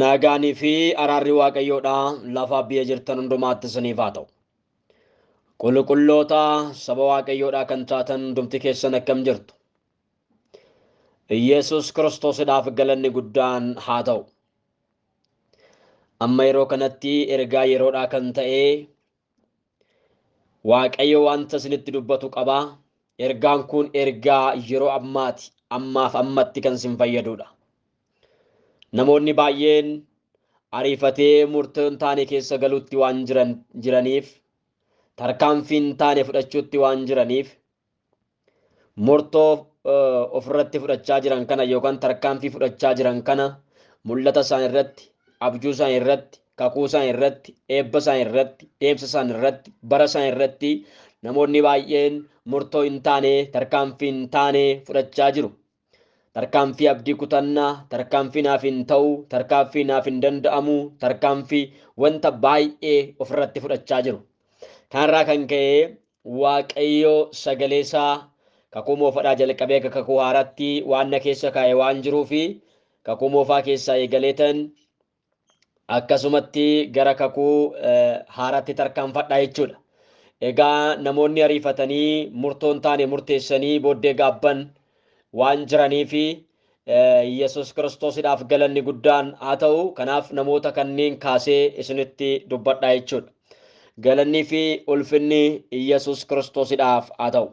Naagaanii fi araarri waaqayyoodha lafa biyya jirtan hundumaatti isiniif haa ta'u. Qulqulloota saba waaqayyoodha kan taatan hundumti keessan akkam jirtu. Yesus Kiristoosidhaaf galanni guddaan haa ta'u. Amma yeroo kanatti ergaa yeroodhaa kan ta'e Waaqayyo wanta isinitti dubbatu qaba. Ergaan kun ergaa yeroo ammaati. Ammaaf ammatti kan isin fayyadudha. Namoonni baay'een ariifatee murtoo hin taane keessa galuutti waan jiran jiraniif tarkaanfii hin taane fudhachuutti waan jiraniif murtoo ofirratti fudhachaa jiran kana yookaan tarkaanfii fudhachaa jiran kana mul'ata isaan irratti, abjuu isaan irratti, kakuu isaan irratti, eebba isaan irratti, deemsa isaan irratti, bara isaan irratti namoonni baay'een murtoo hin taane, tarkaanfii hin taane fudhachaa jiru. Tarkaanfii abdii kutannaa, tarkaanfii naaf hin ta'u, tarkaanfii naaf hin danda'amu, tarkaanfii wanta baay'ee ofirratti fudhachaa jiru. Kanarraa kan ka'e Waaqayyo sagalee isaa kakuu moofadhaa jalqabee akka kakuu haaraatti waan na keessa kaa'e waan jiruu fi kakuu moofaa keessaa eegaleetan akkasumatti gara kakuu haaraatti tarkaanfadha jechuudha. Egaa namoonni ariifatanii murtoo hin taane murteessanii booddee gaabban waan jiraniif Yesus Kiristoosidhaaf galanni guddaan haa ta'u. Kanaaf namoota kanneen kaasee isinitti dubbadha jechuudha. Galannii fi ulfinni Yesus Kiristoosidhaaf haa ta'u.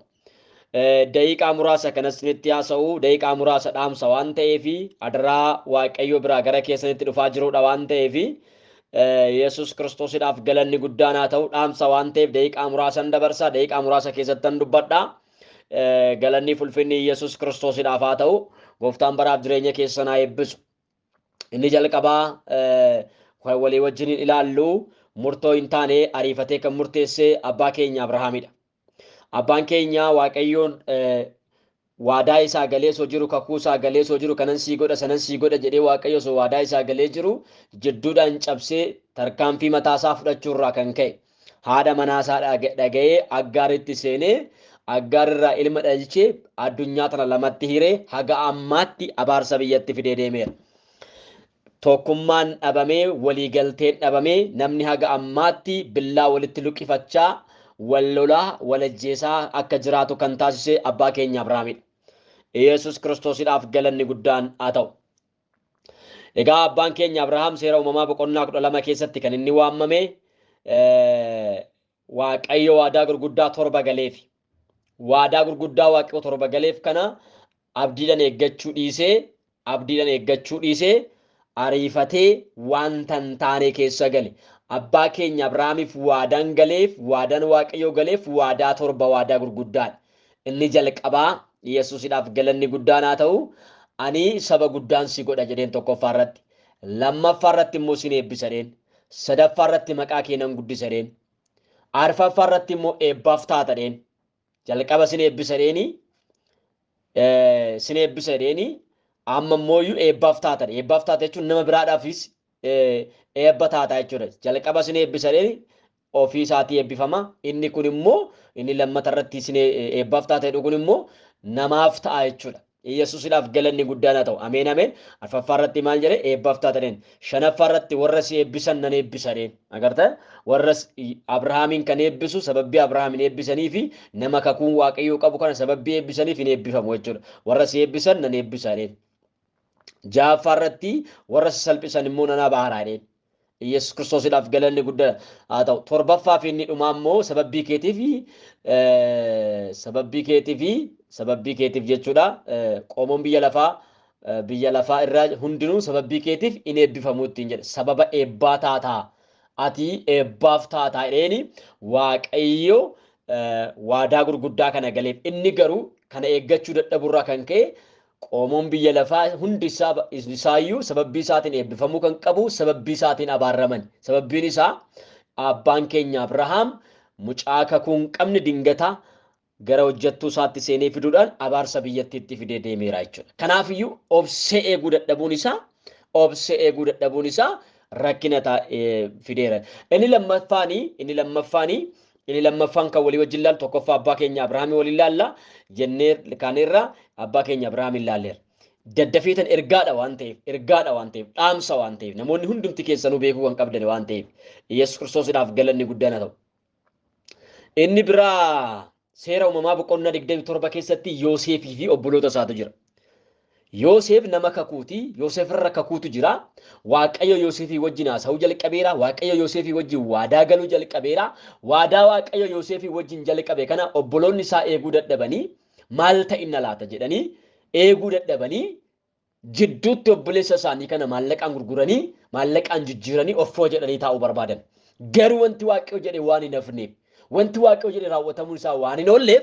daqiiqaa muraasa kan isinitti haasa'u daqiiqaa muraasa dhaamsa waan ta'eef adaraa waaqayyo biraa gara keessanitti dhufaa jirudha waan ta'eef yesus kiristoosidhaaf galanni guddaan haa ta'u dhaamsa waan ta'eef daqiiqaa muraasan dabarsa daqiiqaa muraasa keessattan dubbadha galanni fulfinni yesus kiristoosidhaaf haa ta'u gooftaan baraaf jireenya keessan haa eebbisu inni jalqabaa kan walii wajjin ilaallu murtoo hin taane ariifatee kan murteesse abbaa keenya abrahaamidha Abbaan keenya Waaqayyoon waadaa isaa galee osoo jiru kakuu isaa galee osoo jiru kanan sii godha sanan sii godha jedhee waaqayyo osoo waadaa isaa galee jiru jidduudhaan cabsee tarkaanfii mataa isaa fudhachuurraa kan ka'e haadha manaa isaa dhaga'ee aggaaritti seenee aggaarirraa ilma dhalchee addunyaa tana lamatti hiree haga ammaatti abaarsa biyyatti fidee deemeera. Tokkummaan dhabamee, walii galteen dhabamee namni haga ammaatti billaa walitti luqqifachaa wal lolaa, wal ajjeesaa akka jiraatu kan taasise abbaa keenya Abrahaamidha. Iyeesuus Kiristoosidhaaf galanni guddaan haa ta'u. Egaa abbaan keenya Abrahaam seera uumamaa boqonnaa kudha lama keessatti kan inni waammame Waaqayyo waadaa gurguddaa torba galeefi. waadaa gurguddaa Waaqayyoo torba galeef kana abdiidhaan eeggachuu dhiisee abdiidhaan eeggachuu dhiisee ariifatee wanta hin taane keessa gale. Abbaa keenya Abrahaamiif waadaan galeef waadaan Waaqayyoo galeef waadaa torba waadaa gurguddaadha. Inni jalqabaa Yesuusidhaaf galanni guddaan haa ta'u ani saba guddaan si godha jedheen tokkoffaa irratti. Lammaffaa irratti immoo sin eebbisa jedheen. Sadaffaa irratti maqaa kee nan guddisa jedheen. Arfaffaa irratti immoo eebbaaf taata dheen. Jalqaba sin eebbisa dheeni. Sin eebbisa dheeni. Amma immoo iyyuu eebbaaf taata. Eebbaaf taata jechuun nama biraadhaafis eebba taata jechuudha. Jalqaba sin eebbisa dheeni. Ofii isaatii eebbifama. Inni kun immoo inni lammata irratti sin eebbaaf taata jedhu kun immoo namaaf ta'a jechuudha. Iyyasuusidhaaf galanni guddaan haa ta'u. Ameen Ameen. Arfaffaa irratti maal jedhe? Eebbaaf taataniin. Shanaffaa irratti warra si eebbisan nan eebbisa jedheen. Agarta? Warra Abrahaamiin kan eebbisu sababbii Abrahaamiin eebbisanii fi nama kakuun Waaqayyoo qabu kana sababbii eebbisaniif hin eebbifamu jechuudha. Warra si eebbisan nan eebbisa jedheen. Ja'affaa irratti warra si salphisan immoo nan abaara jedheen. Yesus Kiristoosidhaaf galanni guddaa haa ta'u. Torbaffaa fi inni dhumaa immoo sababbii keetiif sababbii keetiif sababbii keetiif jechuudha. Qoomoon biyya lafaa biyya lafaa irraa hundinuu sababbii keetiif in eebbifamu ittiin jedhe. Sababa eebbaa taataa ati eebbaaf taataa jedheeni waaqayyo waadaa gurguddaa kana galeef. Inni garuu kana eeggachuu dadhaburraa kan ka'e Qoomoon biyya lafaa hundi isaa isaayyuu sababbii isaatiin eebbifamuu kan qabu sababbii isaatiin abaarramani. Sababbiin isaa abbaan keenya Abrahaam mucaa kakuu hin qabne dingata gara hojjettuu isaatti seenee fiduudhaan abaarsa biyyattiitti fidee deemeera jechuudha. Kanaafiyyuu obsee eeguu dadhabuun isaa obsee eeguu dadhabuun isaa rakkina fideera. Inni lammaffaani inni lammaffaani Inni lammaffaan kan walii wajjin laallu tokkoffaa abbaa keenya Abrahaamii waliin laalla jennee kaaneerra abbaa keenya Abrahaamiin laalleerra. Daddafeetan ergaadha waan ta'eef, ergaadha waan ta'eef, dhaamsa waan ta'eef, namoonni hundumti keessanuu beekuu kan qabdan waan ta'eef, Yesuus Kiristoosidhaaf galanni guddaan haa ta'u. Inni biraa seera uumamaa boqonnaa 27 keessatti Yooseefii fi obboloota isaatu jira. Yooseef nama kakuuti. Yooseef irra kakuutu jira. Waaqayyo Yooseefii wajjin haasa'uu jalqabeera. Waaqayyo Yooseefii wajjin waadaa galuu jalqabeera. Waadaa Waaqayyo Yooseefii wajjin jalqabe kana obboloonni isaa eeguu dadhabanii maal ta'inna laata jedhanii eeguu dadhabanii jidduutti obboleessa isaanii kana maallaqaan gurguranii maallaqaan jijjiiranii offoo jedhanii taa'uu barbaadan. Garuu wanti Waaqayyo jedhe waan hin hafneef wanti Waaqayyo jedhe raawwatamuun isaa waan hin oolleef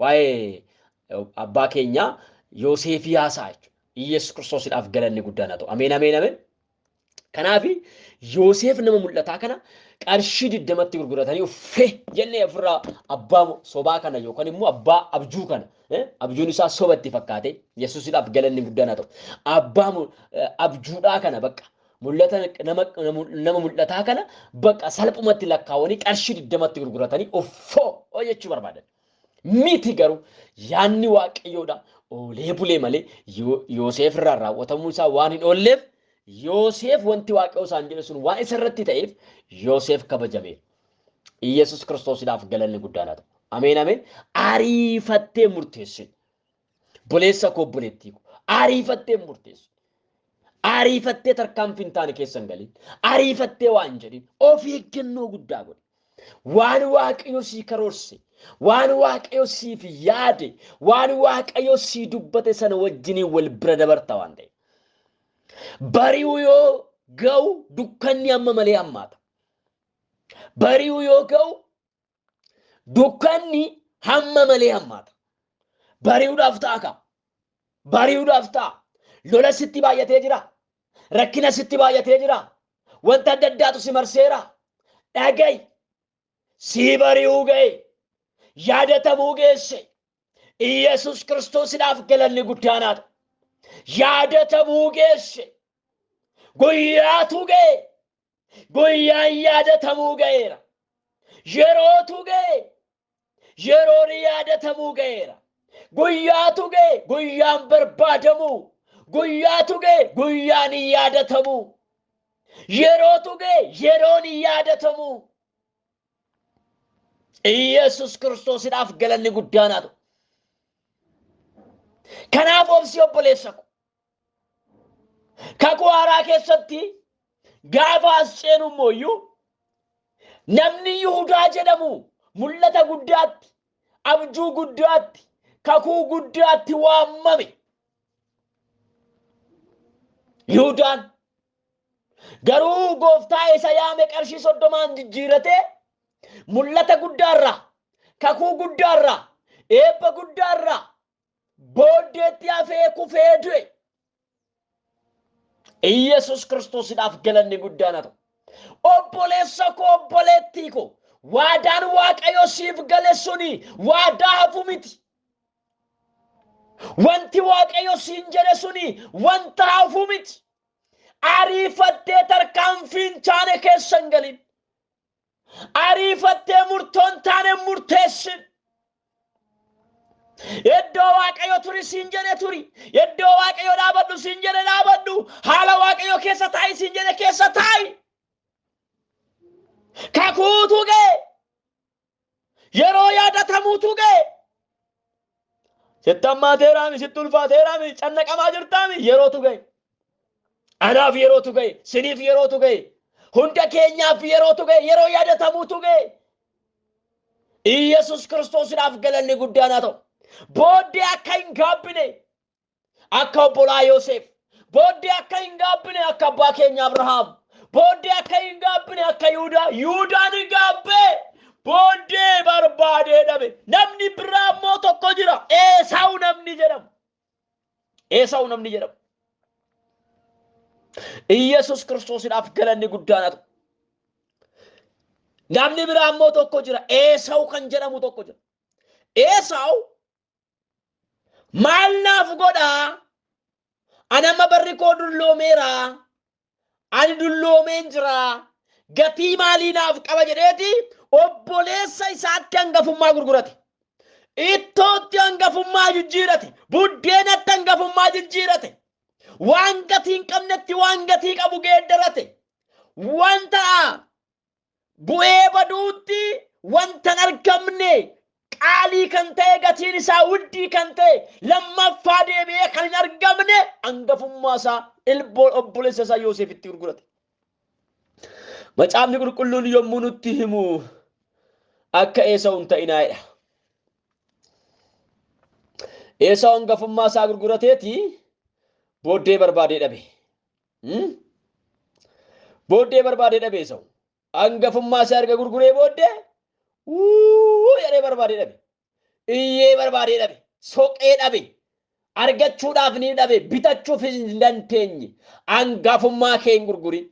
Waa'ee abbaa keenyaa Yooseefii haasa'a jechuudha. Iyyasuus Kiristoosidhaaf galanni guddaan haa ta'u. Ameen ameen ameen. Kanaaf Yooseef nama mul'ataa kana qarshii digdamatti gurguratanii uffee jennee ofirraa abbaa sobaa kana yookaan immoo abbaa abjuu kana abjuun isaa sobatti fakkaate Yesuusidhaaf galanni guddaan haa ta'u. Abbaa abjuudhaa kana bakka mul'ata nama mul'ataa kana bakka salphumatti lakkaawanii qarshii digdamatti gurguratanii uffoo jechuu barbaadan. Miti garuu yaadni waaqayyoodha oolee bulee malee Yo- Yooseef irraa raawwatamuu isaa waan hin oolleef Yooseef wanti waaqayyoo isaan jedhe sun waan isa irratti ta'eef Yooseef kabajameera. Iyyasuus Kiristoosidhaaf galanni guddaan haa ta'u. Ameen ameen. Ariifattee murteessin. Boleessa koo obboleettii koo ariifattee hin murteessu. Ariifattee tarkaanfii hin taane keessa hin galin. Ariifattee waan hin jedhin of eeggannoo guddaa godhi. Waan waaqayyo sii karoorse, waan waaqayyo siif yaade, waan waaqayyo sii dubbate sana wajjinii wal bira dabarta waan ta'eef. Bari'u yoo ga'u dukkanni amma malee hammaata. Bari'u yoo ga'u Dukkanni hamma malee hammaata. Bari'uudhaaf ta'a ka. Bari'uudhaaf ta'a. Lola sitti baay'atee jira. Rakkina sitti baay'atee jira. Wanta adda addaatu si marseera. Dhaga'i. Sii bari'uu ga'e. Yaadatamuu geesse. Iyyasuus Kiristoosidhaaf galanni guddaan haa ta'u. Yaadatamuu geesse. Guyyaatu ga'e. Guyyaan yaadatamuu ga'eera. Yerootu ga'e. Yeroon yaadatamuu ga'eera. Guyyaatu ga'e guyyaan barbaadamuu. Guyyaatu ga'e guyyaan yaadatamuu. Yerootu ga'e yeroon yaadatamuu. Iyyasuus Kiristoosidhaaf galanni guddaanaatu. Kanaaf obsi obboleessa ko. Kakuu haaraa keessatti gaafa as ceenu immoo iyyuu namni Yihudaa jedhamu mul'ata guddaatti, abjuu guddaatti, kakuu guddaatti waamame. Yihudaan garuu gooftaa isa yaame qarshii soddomaan jijjiiratee mul'ata guddaarraa, kakuu guddaarraa, eebba guddaarraa booddeetti hafee kufee du'e. Iyyasuus Kiristoosidhaaf galanni guddaan haa ta'u. Obboleessa koo obboleettii koo waadaan Waaqayyo siif gale suni waadaa hafu miti. Wanti Waaqayyo siin jedhe suni wanta hafu miti. Ariifattee tarkaanfiin chaane keessa hin galin. Ariifattee murtoo hin taane hin murteessin. Iddoo Waaqayyo turi siin jedhe turi. Iddoo Waaqayyo dhaabadhu siin jedhe dhaabadhu. Haala Waaqayyo keessa taa'i siin jedhe keessa taa'i. Kakuutu ga'e. Yeroo yaadatamuutu ga'e. Sitti hammaateeraami, sitti ulfaateeraami, cannaqamaa jirtaami yerootu ga'e. Anaaf yerootu ga'e, siniif yerootu ga'e, hunda keenyaaf yerootu ga'e, yeroo yaadatamuutu ga'e. Iyyasuus Kiristoosidhaaf galanni guddaan haa ta'u. Booddee akka hin gaabbine akka obbolaa Yooseef booddee akka hin gaabbine akka abbaa keenya Abrahaam booddee akka hin gaabbine akka Yihudaa Yihudaan hin gaabbee booddee barbaadee dhabe namni biraa immoo tokko jira Eesaawu namni jedhamu Eesaawu namni jedhamu Iyyasuus Kiristoosidhaaf galanni guddaan haa ta'u. Namni biraa immoo tokko jira. Eesaawu kan jedhamu tokko jira. Eesaawu maal naaf godha an amma barri koo dulloomeera ani dulloomeen jira gatii maalii naaf qaba jedheeti obboleessa isaatti hangafummaa gurgurate ittootti hangafummaa jijjiirate buddeenatti hangafummaa jijjiirate waan gatii hin qabnetti waan gatii qabu geeddarate wanta Bu'ee baduutti wanta hin argamne qaalii kan ta'e gatiin isaa wuddii kan ta'e lammaffaa deebi'ee kan hin argamne angafummaa isaa ilboon obboleessa isaa Yoosefitti gurgurate. Macaafni qulqulluun yommuu nutti himu akka Eesawu hin ta'inaa jedha. Eesawu angafummaa isaa gurgurateeti booddee barbaadee dhabe. Booddee barbaadee dhabe Esawu. Angafummaa isaa erga gurguree booddee wuu jedhee barbaadee dhabe. Iyyee barbaadee dhabe. Soqee dhabe. Argachuudhaaf ni dhabe. Bitachuuf hin dandeenye. Angafummaa kee hin gurgurin.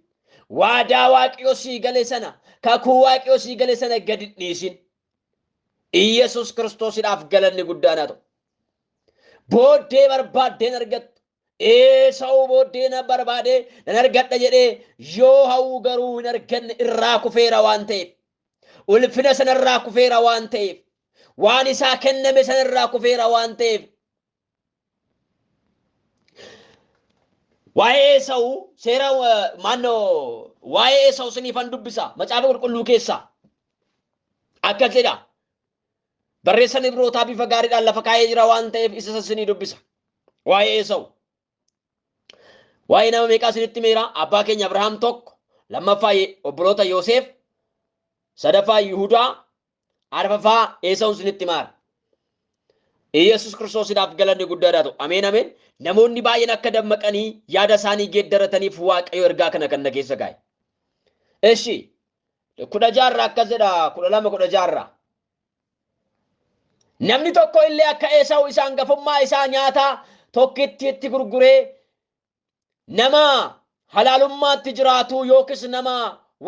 Waadaa waaqayyo sii gale sana, kakuu waaqayyo sii gale sana gadi hin dhiisin. Iyyasuus Kiristoosidhaaf galanni guddaan haa ta'u. Booddee barbaaddeen argattu. Eesawuu booddee na barbaadee nan argadha jedhee yoo hawwu garuu hin arganne irraa kufeera waan ta'eef. Ulfina sanarraa kufeera waan ta'eef. Waan isaa kenname sanarraa kufeera waan ta'eef. Waa'ee Eesawu seera maannoo waa'ee Eesawu siniifan dubbisa macaafa qulqulluu keessaa akkas jedha Barreessan Ibrootaa bifa gaariidhaan lafa kaa'ee jira waan ta'eef isa sassinii dubbisa. Waa'ee Esawu. Waa'ee nama meeqaa isinitti meera abbaa keenya Abrahaam tokko, lammaffaa Ye- obboloota Yooseef, sadaffaa Yihudaa, arfaffaa Esawu isinitti maara. Iyyasuus Kiristoosidhaaf galanni guddaadhaa ta'u. Ameen ameen. Namoonni baay'een akka dammaqanii yaada isaanii geeddarataniif Waaqayyo ergaa kana kan na keessa kaa'e. Eshi kudha jaarraa akkas jedha kudha lama kudha jaarraa. Namni tokko illee akka Eesawu isa hangafummaa isaa nyaata tokkittiitti gurguree nama halaalummaatti jiraatu yookiis nama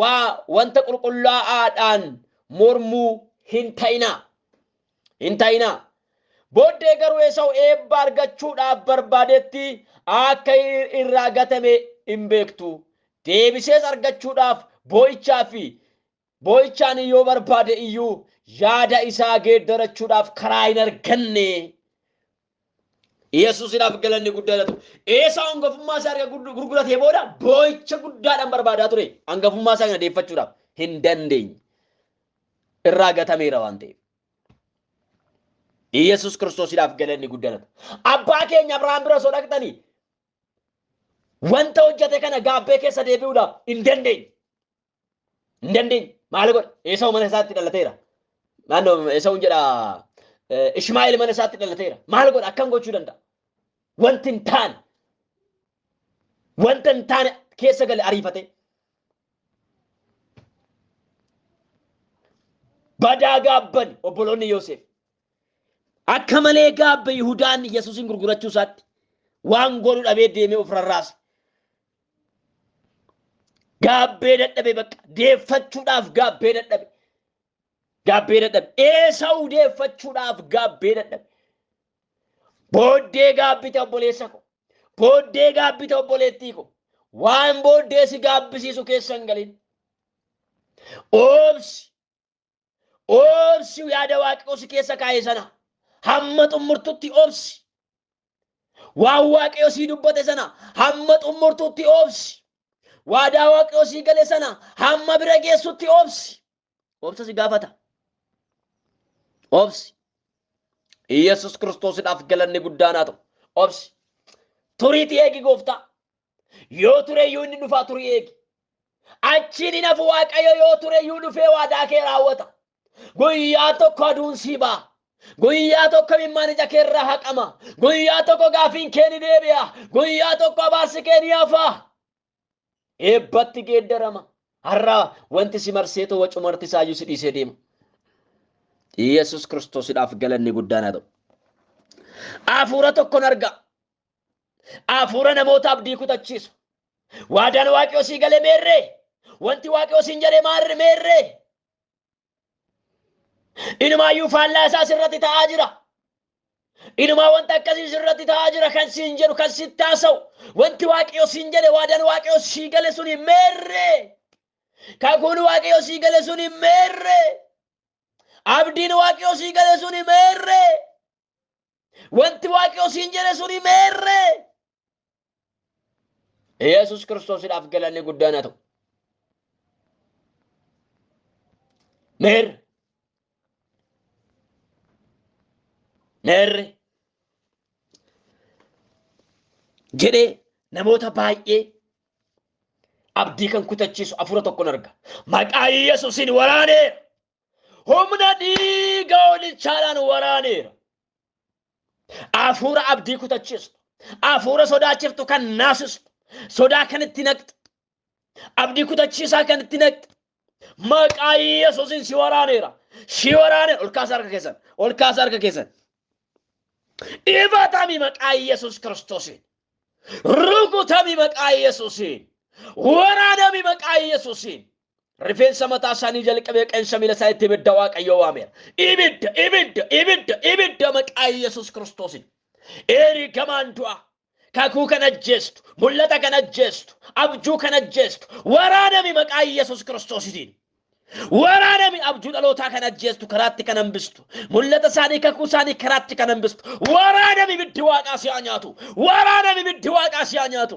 waa wanta qulqullaa'aadhaan mormuu hin ta'inaa. Hin ta'inaa. Booddee garuu Esawu eebba argachuudhaaf barbaadetti akka irraa gatame hin beektu. Deebisees argachuudhaaf boo'ichaa fi boo'ichaan yoo barbaade iyyuu yaada isaa geeddarachuudhaaf karaa hin arganne. Yesuusidhaaf galanni guddaa haa ta'u. Eesaa hangafummaa isaa erga gurg- gurguratee booda boo'icha guddaadhaan barbaadaa ture. Hangafummaa isaa kana deeffachuudhaaf hin dandeenye. Irraa gatameera waan ta'eef. Yesuus Kiristoosidhaaf galanni guddaa haa ta'u. Abbaa keenya Abrahaam bira osoo dhaqxanii wanta hojjete kana gaabbee keessa deebi'uudhaaf hin dandeenye. Hin dandeenye. Maal godhe? Eesawu mana isaatti dhalateera. Naannoo Eesawuun jedha eh, Ishmaa'eel mana isaatti dhalateera. Maal godha? Akkam gochuu danda'a? Wanti hin taane. Wanta hin taane keessa gale ariifatee. Badaa gaabban obboloonni Yoosef. Akka malee gaabbe Yihudaan Yesuusin gurgurachuu isaatti waan godhu dhabee deemee of rarraase. Gaabbee dadhabe bakka deeffachuudhaaf gaabbee dadhabe. Gaabbee dadhabe. Eesawu deeffachuudhaaf gaabbee dadhabe. Booddee gaabbite obboleessa ko. Booddee gaabbite obboleettii ko. Waan booddee si gaabbisiisu keessa hin galin. Oobsi Obsi yaada Waaqayyoo si keessa kaa'e sana hamma xumurtutti obsi. Waan Waaqayyo sii dubbate sana hamma xumurtutti obsi. Waadaa Waaqayyo sii gale sana hamma bira geessutti obsi. Obsa si gaafata. Obsi. Yesus Kiristoosidhaaf galanni guddaan haa ta'u. Obsi. Turiitii eegi gooftaa. Yoo ture iyyuu inni dhufaa turii eegi. Achiin hin hafu Waaqayyo yoo ture iyyuu dhufee waadaa kee raawwata. Guyyaa tokko aduun sii ba'a. Guyyaa tokko imimmaan ija kee irraa haqama. Guyyaa tokko gaafiin kee ni deebi'a. Guyyaa tokko abaarsi kee ni hafa. Eebbatti geeddarama. Har'a wanti si marsee ta'u wacumarti isaayyuu si dhiisee deema. Yesus Kiristoosidhaaf galanni guddaan haa ta'u. Hafuura tokkon arga. Hafuura namoota abdii kutachiisu. Waadaan waaqayyoo sii galee meerree? Wanti waaqayyoo siin jedhee maarri meerree? Inumaayyuu faallaa isaa sirratti ta'aa jira. Inumaa wanta akkasii sirratti ta'aa jira kan siin jedhu kan sitti haasa'u. Wanti waaqayyoo siin jedhe waadaan waaqayyoo sii gale suni meerree? Kakuun waaqayyoo sii gale suni meerree? Abdiin waaqayyoo sii gale suni meerree? Wanti waaqayyo siin jedhe suni meerree? Yesus Kiristoosidhaaf galanni guddaan haa ta'u. Meerre. Meerre. Jedhee namoota baay'ee abdii kan kutachiisu afura tokkon arga. Maqaa Yesuusiin waraanee humna dhiiga hoolichaadhaan waraaneera. Hafuura abdii kutachiistu, hafuura sodaachiftu kan naasistu, sodaa kan itti naqxu, abdii kutachiisaa kan itti naqxu. Maqaa Yesuusin si waraaneera. Si waraaneera. Ol kaasa harka keessan. Ol kaasa harka keessan. Ifatami maqaa Yesuus Kiristoosiin. Rukutami maqaa Yesuusiin. Waraanami maqaa Yesuusiin. Rifeensa mataa isaanii jalqabee qeensa miila isaaniitti ibidda Waaqayyoo waameera. Ibidda, ibidda, ibidda, ibidda maqaa Yesuus Kiristoosiin. Ergamaan du'aa kakuu kan ajjeestu, mul'ata kan ajjeestu, abjuu kan ajjeestu, waraanami maqaa Yesuus Kiristoosiin. Waraanami abjuu dhalootaa kan ajjeestu karaatti kan hambistu. Mul'ata isaanii kakuu isaanii karaatti kan hambistu. Waraanami ibiddi waaqaa si haa nyaatu. Waraanami ibiddi waaqaa si haa nyaatu.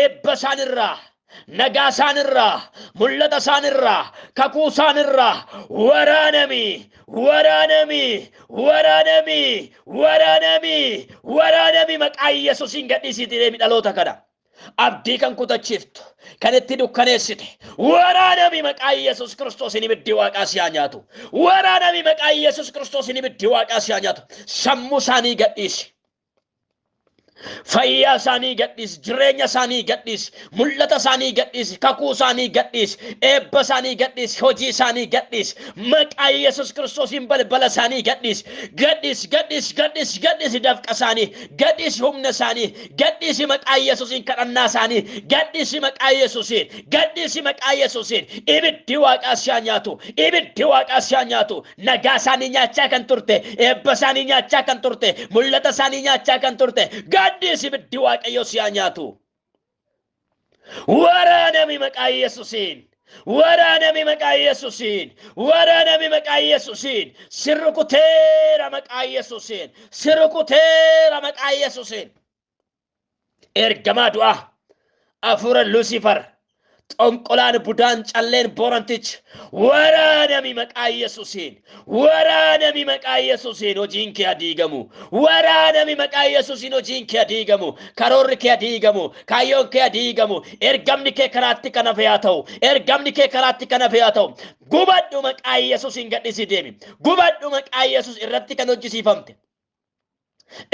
eebba isaan irraa nagaa isaan irraa mul'ata isaan irraa kakuu isaan irraa waraanami waraanami waraanami waraanami waraanami maqaa yesusiin gadhiisiitii deemi dhaloota kana abdii kan kutachiiftu kan itti dukkaneessite waraanami maqaa yesus kiristoosiin ibiddi waaqaa si haa nyaatu waraanami maqaa yesus kiristoosiin ibiddi waaqaa si haa nyaatu sammuu isaanii gadhiisi Fayyaa isaanii gadhiisi, jireenya isaanii gadhiisi, mul'ata isaanii gadhiisi, kakuu isaanii gadhiisi, eebba isaanii gadhiisi, hojii isaanii gadhiisi, maqaa Yesuus Kiristoosiin balbala isaanii gadhiisi, gadhiisi, gadhiisi, gadhiisi, gadhiisi dafqa isaanii, gadhiisi humna isaanii, gadhiisi maqaa Yesuusiin kadhannaa isaanii, gadhiisi maqaa Yesuusiin, gadhiisi maqaa Yesuusiin, ibiddi waaqaa si haa nyaatu, ibiddi waaqaa si haa nyaatu, Nagaa isaanii nyaachaa kan turte, eebba isaanii nyaachaa kan turte, mul'ata isaanii nyaachaa kan turte, gaaddiis ibiddi Waaqayyoo si haa nyaatu. Waraanami maqaa Yesuusiin! Waraanami maqaa Yesuusiin! Waraanami maqaa Yesuusiin! Si rukuteera maqaa Yesuusiin! Si rukuteera maqaa Yesuusiin! ergamaa du'aa afuura lusiifar xonqolaan budaan calleen boorantichi waraanami maqaa yesusiin waraanami maqaa yesusiin hojiin kee adiigamu waraanami maqaa yesusiin hojiin kee adiigamu karoorri kee adiigamu kaayyoon kee adiigamu ergamni kee karaatti kan hafe haa ta'u ergamni kee karaatti kan hafe haa ta'u gubadhu maqaa yesusiin gadhisii deemi gubadhu maqaa yesus irratti kan hojjisiifamte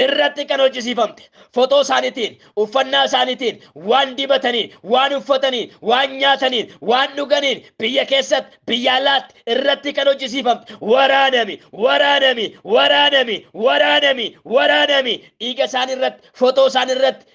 irratti kan hojjisiifamte fotoo isaaniitiin uffannaa isaaniitiin waan dibataniin waan uffataniin waan nyaataniin waan dhuganiin biyya keessatti biyya alaatti irratti kan hojjisiifamte waraanami waraanami waraanami waraanami waraanami dhiiga isaanii irratti fotoo isaanii irratti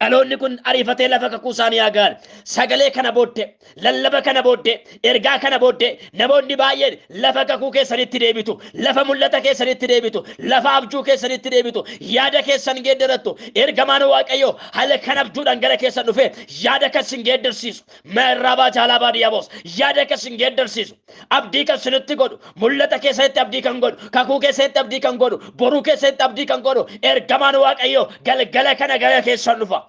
Dhaloonni kun ariifatee lafa kakuu isaanii haa ga'an. Sagalee kana booddee, lallaba kana booddee, ergaa kana booddee namoonni baay'een lafa kakuu keessanitti deebitu, lafa mul'ata keessanitti deebitu, lafa abjuu keessanitti deebitu, yaada keessan geeddarattu. Ergamaan Waaqayyoo halkan abjuudhaan gara keessan dhufee yaada kan isin geeddarsiisu, Meerraabaa Jaalaabaa Diyaboos yaada akka isin geeddarsiisu, abdii kan isinitti godhu, mul'ata keessanitti abdii kan godhu, kakuu keessanitti abdii kan godhu, boruu keessanitti abdii kan godhu, ergamaan Waaqayyoo galgala kana gara keessan dhufa.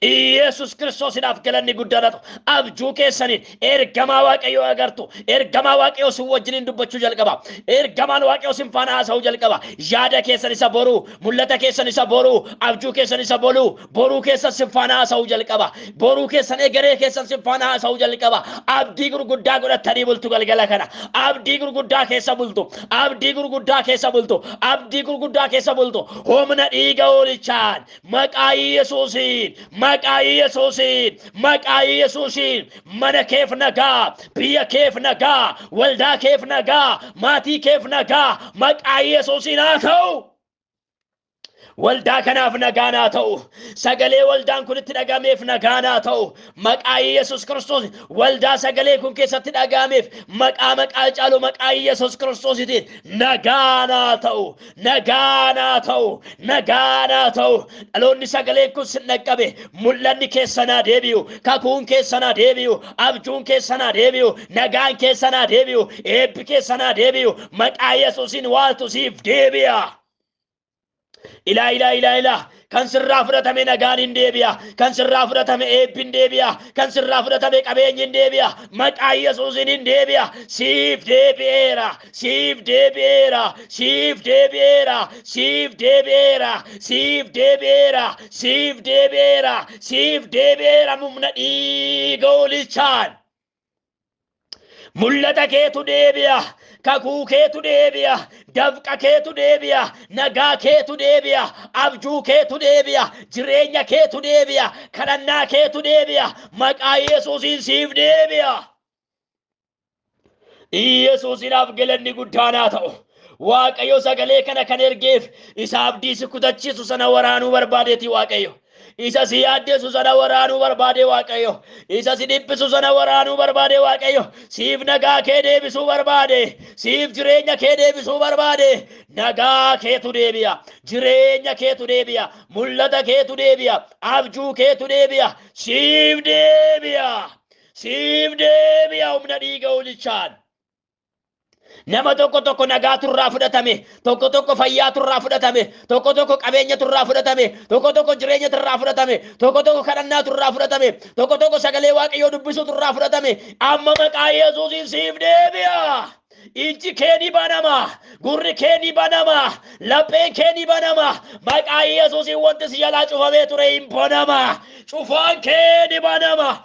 Iyeesus Kiristoosidhaaf galanni guddaan haa ta'u. Abjuu keessaniin ergamaa Waaqayyoo agartu. Ergamaa Waaqayyoo sin wajjiniin dubbachuu jalqaba. Ergamaan Waaqayyoo sin faana haasa'uu jalqaba. Yaada keessan isa boruu, mul'ata keessan isa boruu, abjuu keessan isa boruu, Boruu keessan sin faana haasa'uu jalqaba. Boruu keessan egeree keessan sin faana haasa'uu jalqaba. Abdii gurguddaa godhattanii bultu galgala kana. Abdii gurguddaa keessa bultu. Abdii gurguddaa keessa bultu. Abdii gurguddaa keessa bultu. Humna dhiiga hoolichaan maqaa Yesuusiin maqaa Yesuusiin maqaa Yesuusiin mana keef nagaa biyya keef nagaa waldaa keef nagaa maatii keef nagaa maqaa Yesuusiin haa ta'u. Waldaa kanaaf nagaan haa ta'u. Sagalee waldaan kun itti dhagameef nagaan haa ta'u. Maqaa Yesus Kiristoos waldaa sagalee kun keessatti dhagameef maqaa maqaa caalu maqaa Yesus Kiristoositiin nagaan haa ta'u. Nagaan haa ta'u. Nagaan haa ta'u. Dhaloonni sagaleen kun sin dhaqqabe mul'anni keessan haa deebi'u. Kakuun keessan haa deebi'u. Abjuun keessan haa deebi'u. Nagaan keessa naa deebi'u, eebbi keessa naa deebi'u, maqaa Yesuusiin waaltu siif deebi'a. Ilaa ilaa ilaa ilaa kan sirraa fudhatame nagaan hin deebi'a, kan sirraa fudhatame eebbi hin deebi'a, kan sirraa fudhatame qabeenyi hin deebi'a, maqaa Yesuusiin hin deebi'a. Siif deebi'eera, siif deebi'eera, siif deebi'eera, siif deebi'eera, siif deebi'eera, siif deebi'eera, siif deebi'eera mumna dhiiga hoolichaan. Mul'ata keetu deebi'a, kakuu keetu deebi'a, dafqa keetu deebi'a, nagaa keetu deebi'a, abjuu keetu deebi'a, jireenya keetu deebi'a, kadhannaa keetu deebi'a, maqaa Yesuusiin siif deebi'a. Yesuusiidhaaf galanni guddaan haa ta'u. Waaqayyo sagalee kana kan ergeef isa abdii si kutachiisu sana waraanuu barbaadeeti Waaqayyo. Isa si yaaddeessu sana waraanuu barbaade Waaqayyo. Isa si dhiphisu sana waraanuu barbaade Waaqayyo. Siif nagaa kee deebisuu barbaade. Siif jireenya kee deebisuu barbaade. Nagaa keetu deebi'a. Jireenya keetu deebi'a. Mul'ata keetu deebi'a. Abjuu keetu deebi'a. Siif deebi'a. Siif deebi'a humna dhiiga hoolichaan. Nama tokko tokko nagaatu irraa fudhatame, tokko tokko fayyaatu irraa fudhatame, tokko tokko qabeenyatu irraa fudhatame, tokko tokko jireenyatu irraa fudhatame, tokko tokko kadhannaatu irraa fudhatame, tokko tokko sagalee waaqayyoo dubbisuutu irraa fudhatame. Amma maqaa Yesuusiin siif deebi'a. Ijji kee ni banama, gurri kee ni banama, lapheen kee ni banama. Maqaa Yesuusiin wanti si jalaa cufamee ture hin banama. Cufaan kee ni banama.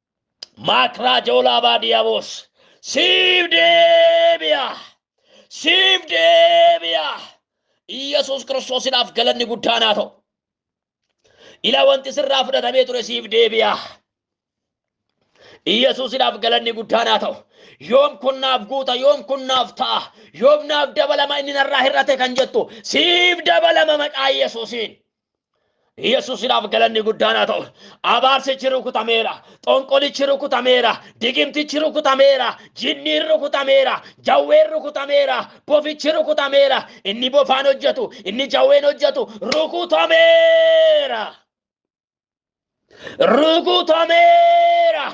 maakraa joolaa baadiyaaboos siif deebi'a siif deebi'a Iyyasuus Kiristoosidhaaf galanni guddaan haa ta'u. Ila wanti sirraa fudhatamee ture siif deebi'a. Iyyasuusidhaaf galanni guddaan haa ta'u. Yoom kun naaf guuta, yoom kun naaf ta'a, yoom naaf dabalama inni narraa hir'ate kan jettu siif dabalama maqaa Iyyasuusiin. Yesuusidhaaf galanni guddaan haa ta'u. Abaarsichi rukutameera. Xonqolichi rukutameera. Digimtichi rukutameera. Jinniin rukutameera. Jawween rukutameera. Bofichi rukutameera. Inni bofaan hojjetu, inni jawween hojjetu rukutameera. rukutameera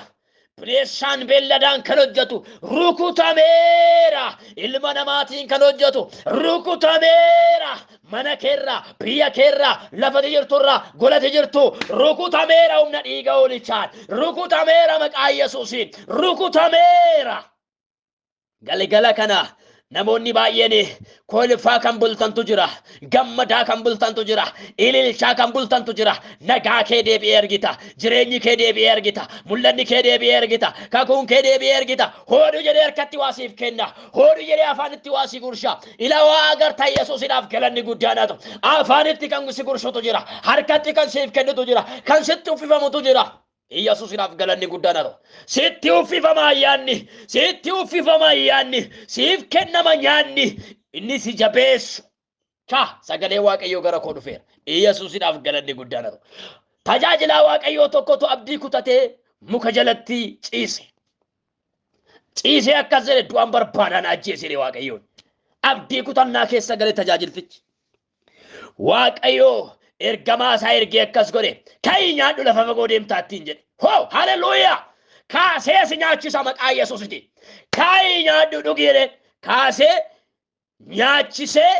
bineessaan beelladaan kan hojjetu rukutameera ilma namaatiin kan hojjetu rukutameera mana keerraa biyya keerraa lafati jirturraa golati jirtu rukutameera humna dhiiga hoolichaan rukutameera maqaa yesuusiin rukutameera Galgala kana namoonni baay'een kolfaa kan bultantu jira, gammadaa kan bultantu jira, ililchaa kan bultantu jira. Nagaa kee deebi'ee argita, jireenyi kee deebi'ee argita, mul'anni kee deebi'ee argita, kakuun kee deebi'ee argita. Hooduu jedhee harkatti waa siif kenna, hooduu jedhee afaanitti waa si gursha. Ila waa agarta Yesuusidhaaf galanni guddaan haa ta'u. Afaanitti kan si gursutu jira, harkatti kan siif kennutu jira, kan sitti uffifamutu jira. Iyyasuusiidhaaf galanni guddaan haa ta'u. Sitti uffifama ayyaanni, sitti uffifama ayyaanni, siif kennama nyaanni, inni si jabeessu. Ka sagalee Waaqayyoo gara koo dhufeera. Iyyasuusiidhaaf galanni guddaan haa ta'u. Tajaajilaa Waaqayyoo tokkotu abdii kutatee muka jalatti ciise. Ciisee akkas jedhe du'aan barbaadaan ajjeesee Waaqayyoon. Abdii kutannaa keessa galee tajaajiltichi. Waaqayyoo ergamaa isaa ergee akkas godhe ka'ii nyaadhu lafa fagoo deemtaattiin jedhe hoo haleluuyaa kaasee si nyaachisa maqaa yesuusiti ka'ii nyaadhu dhugi jedheen kaasee nyaachisee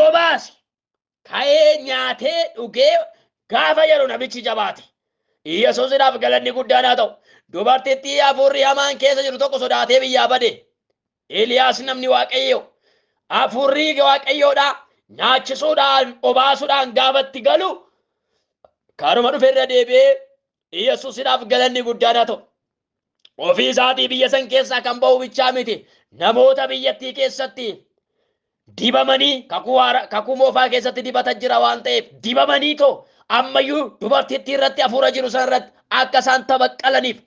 obaase ka'ee nyaatee dhugee gaafa jedhu nabichi jabaate yesuusidhaaf galanni guddaan haa ta'u dubartittii hafuurri hamaan keessa jiru tokko sodaatee biyyaa bade Eeliyaas namni Waaqayyoo hafuurri Waaqayyoodhaa nyaachisuudhaan obaasuudhaan gaafatti galu karuma dhufe irra deebi'ee Yesuusidhaaf galanni guddaan haa ta'u. Ofii isaatii biyya san keessaa kan ba'u bichaa miti namoota biyyattii keessatti dibamanii kakuu haara- kakuu moofaa keessatti dibata jira waan ta'eef dibamanii too ammayyuu dubartittii irratti hafuura jiru sana irratti akka isaan tabaqqalaniif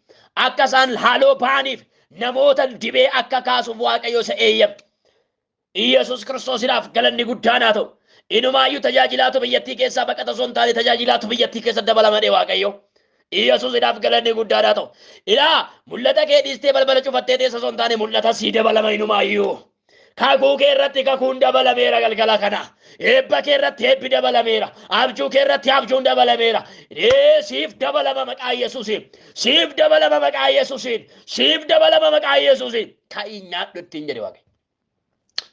akka isaan haaloo ba'aniif namoota dibee akka kaasuuf waaqayyo isa eeyyame. Iyyasuus kiristoosiidhaaf galanni guddaan haa ta'u. Inumaayyuu tajaajilaatu biyyattii keessaa baqata osoo hin taane tajaajilaatu biyyattii keessa dabalamadhe waaqayyo. Iyyasuusiidhaaf galanni guddaan haa ta'u. Ilaa mul'ata kee dhiistee balbala cufattee teessa osoo hin taane mul'ata sii dabalama inumaayyuu. Kakuu kee irratti kakuun dabalameera galgala kana. Eebba kee irratti eebbi dabalameera. Abjuu kee irratti abjuun dabalameera. Ee siif dabalama maqaa Yesuusiin. Siif dabalama maqaa Yesuusiin. Siif dabalama maqaa Yesuusiin. Ka'ii nyaadhu ittiin jedhe Waaqayyo.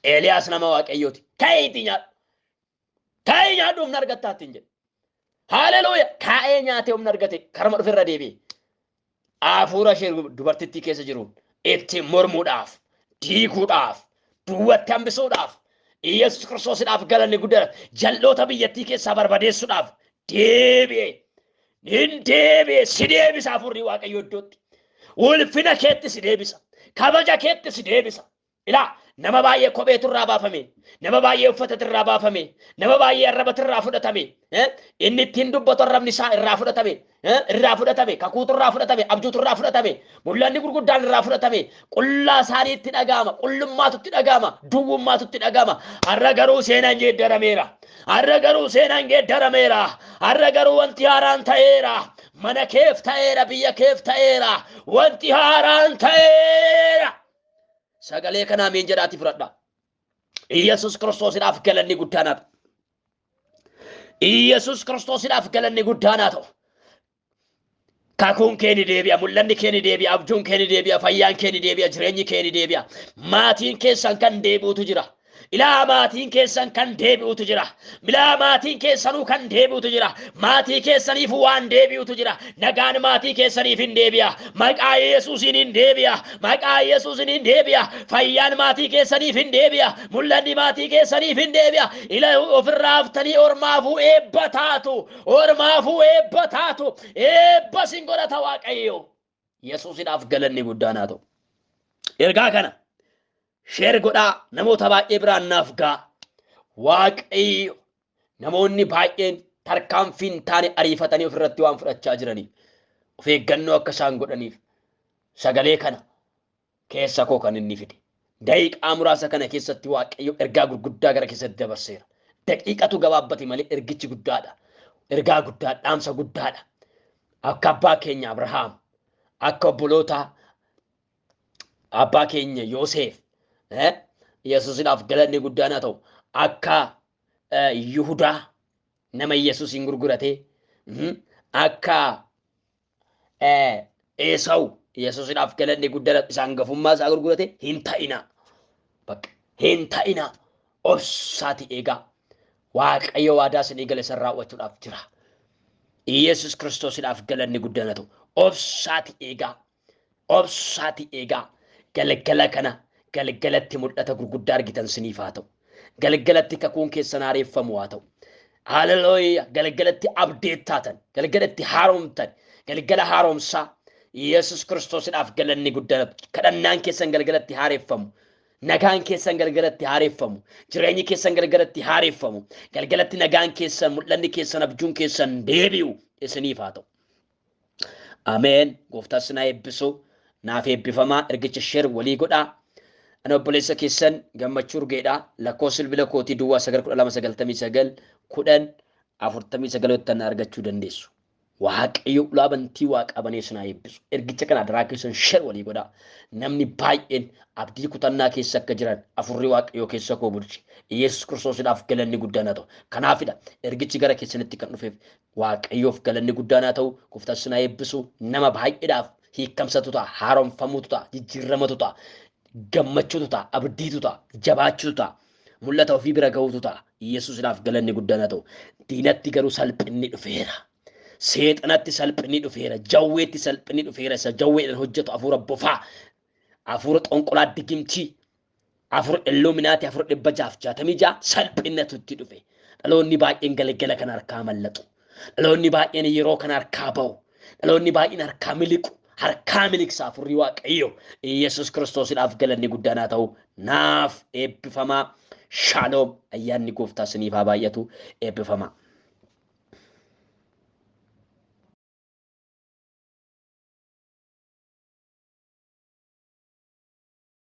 Eeliyaas nama Waaqayyooti. Ka'iitii nyaadhu. Kaa'ee nyaadhu humna argattaa ittiin jedhe. Haaleluuya! Kaa'ee nyaatee humna argate karuma dhufe irra deebi'e. Hafuura ishee dubartittii keessa jiru ittiin mormuudhaaf, diiguudhaaf, duwwatti hambisuudhaaf, Iyyasuus Kiristoosidhaaf galanni guddaa jal'oota biyyattii keessaa barbadeessuudhaaf deebi'e. Nin deebi'e, si deebisa hafuurri Waaqayyoo iddootti. Ulfina keetti si deebisa. Kabaja keetti si deebisa. Ilaa nama baay'ee kopheetu irraa baafame, nama baay'ee uffatatu irraa baafame, nama baay'ee arrabatu irraa fudhatame, eh, inni ittiin dubbatu arrabni isaa irraa fudhatame, eh, irraa fudhatame, kakuutu irraa fudhatame, abjuutu irraa fudhatame, mul'anni gurguddaan irraa fudhatame, qullaa isaanii itti dhaga'ama, qullummaatu itti dhaga'ama, duwwummaatu itti dhaga'ama. Har'a garuu seenaan geeddarameera. Har'a garuu seenaan geeddarameera. Har'a garuu wanti haaraan ta'eera. Mana keef ta'eera, biyya keef ta'eera. Wanti haaraan ta'eera. Sagalee kana ameen jedhaati fudhadha. Iyyasuus Kiristoosidhaaf galanni guddaan haa ta'u. Iyyasuus Kiristoosidhaaf galanni guddaan haa ta'u. Kakuun kee ni deebi'a, mul'anni kee ni deebi'a, abjuun kee ni deebi'a, fayyaan kee ni deebi'a, jireenyi kee ni deebi'a. Maatiin keessan kan deebi'utu jira. Ilaa maatiin keessan kan deebi'utu jira. Milaa maatiin keessanuu kan deebi'utu jira. Maatii keessaniif waan deebi'utu jira. Nagaan maatii keessaniif hin deebi'a. Maqaa Yesuusiin hin deebi'a. Maqaa Yesuusiin hin deebi'a. Fayyaan maatii keessaniif hin deebi'a. Mul'anni maatii keessaniif hin deebi'a. Ila ofirraa haftanii ormaafuu eebba taatu. Ormaafuu eebba taatu. Eebba sin godhata Waaqayyo. Yesuusidhaaf galanni guddaan haa ta'u. Ergaa kana sheer godhaa namoota baay'ee biraan naaf ga'a. Waaqayyo namoonni baay'een tarkaanfii hin taane ariifatanii ofirratti waan fudhachaa jiraniif of eeggannoo akka isaan godhaniif sagalee kana keessa koo kan inni fide. Daqiiqaa muraasa kana keessatti Waaqayyo ergaa gurguddaa gara keessatti dabarseera. Daqiiqatu gabaabbate malee ergichi guddaadha. Ergaa guddaa dhaamsa guddaadha. Akka abbaa keenya Abrahaam, akka obboloota abbaa keenya Yooseef, eh, Yesuusidhaaf galanni guddaan haa ta'u, akka eh, Yihudaa nama Yesuusiin gurguratee, mm, akka Eesawu Yesuusidhaaf galanni guddaan isa hangafummaa isaa gurgurate hin ta'inaa. Bakka hin ta'inaa obsaati eegaa. Waaqayyo waadaa isinii gale san raawwachuudhaaf jira. Yesuus Kiristoosidhaaf galanni guddaan haa ta'u. Obsaati eegaa. Obsaatii eegaa. Galgala kana galgalatti mul'ata gurguddaa argitan siniif haa ta'u. Galgalatti kakuun keessan haareeffamu haa ta'u. Haalelooya galgalatti abdeet taatan, galgalatti haaromtan, galgala haaromsaa Yesus Kiristoosidhaaf galanni guddaan kadhannaan keessan galgalatti haareeffamu. Nagaan keessan galgalatti haareeffamu. Jireenyi keessan galgalatti haareeffamu. Galgalatti nagaan keessan, mul'anni keessan, abjuun keessan deebi'u isiniif haa ta'u. Ameen gooftaan sinaa eebbisu naaf eebbifamaa ergicha sheer walii godhaa ani obboleessa keessan gammachuu urgeedha lakkoo silbila kootii duwwaa 919 10 49 yottan argachuu dandeessu waaqayyo ulaa bantii waaqaa banee sinaa eebbisu ergicha kana adaraa keessan sheer walii godhaa namni baay'een abdii kutannaa keessa akka jiran afurri waaqayyo keessa koo bulche yesus kiristoosidhaaf galanni guddaan haa ta'u kanaafidha ergichi gara keessanitti kan dhufeef Waaqayyoof galanni guddaan haa ta'u gooftaan sin haa eebbisu nama baay'eedhaaf hiikkamsatu ta'a haaromfamuutu ta'a jijjiirramatu ta'a gammachuutu ta'a abdiitu ta'a jabaachuutu ta'a mul'ata ofii bira ga'uutu ta'a yesuusidhaaf galanni guddaan haa ta'u diinatti garuu salphinni dhufeera seexanatti salphinni dhufeera jawweetti salphinni dhufeera isa jawweedhaan hojjetu afuura bofaa afuura xonqolaa digimtii afur illuminaati afur dhibba jaaf jaatamii jaa salphinnatu itti dhufe dhaloonni baay'een galgala kan harkaa mallaxu dhaloonni baay'een yeroo kan harkaa ba'u dhaloonni baay'een harkaa miliqu harkaa miliqsa afurri waaqayyo yesus kiristoosidhaaf galanni guddaan haa ta'u naaf eebbifamaa shaaloom ayyaanni gooftaa siniif haa baay'atu eebbifamaa.